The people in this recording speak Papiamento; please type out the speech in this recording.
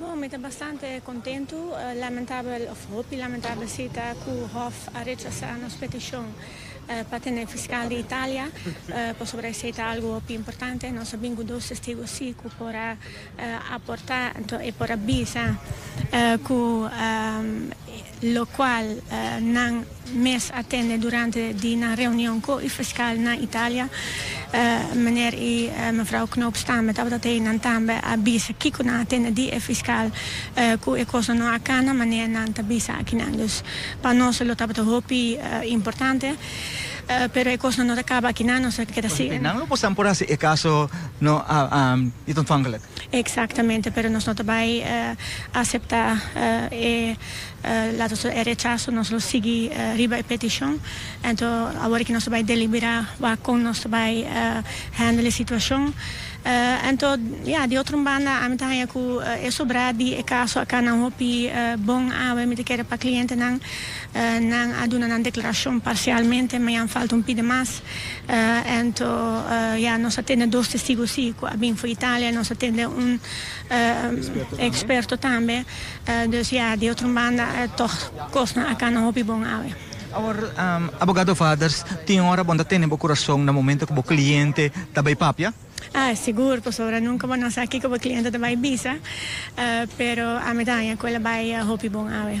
Oh, mi ta bastante contentu. Lamentabel, of hopi lamentabel si, ta cu Hof a rechasa nos peticion pa tene fiscal di Italia, pasobra esey ta algu hopi importante. Nos a bin cu dos testigo si cu por a aporta, enton e por a bisa cu. locual nan mes a tende durante di nan reunion cu e fiscal na Italia. Meneer y mevrouw Knoops tambe tabata tei. Nan tambe a bisa kico nan a tende di e fiscal cu e cosnan no a cana manera nan ta bisa akinan. Dus pa nos lo tabata hopi importante, pero e cosnan no ta caba akinan, nos a keda sigue. Nan lo por sa por haci e caso no a ontvankelijk. Exactamente, pero nos no ta bay acepta e lato so e rechaso, nos lo sigui riba e peticion, ento awor aki nos ta bay delibera wak con nos ta bay handle e situacion, ento ya di otro un banda ami ta haya cu e sobra di e caso aca nan hopi bon awe, mi ta kere pa clientenan nan a duna nan declaracion parcialmente, mañan falta un pide mas, Anto ya nos a tende dos testigo si cu a bin for Italia, nos a tende un experto tambe, dus ya di otro banda tog cosnan a cana hopi bon awe. Awor Abogado Vaders, tin ora bo ta tene bo curason na momento cu bo cliente ta bay papia? Ah, sigur, pasobra nunca bo na sa kico bo cliente ta bay bisa, pero ami ta haña cu el a bay hopi bon awe.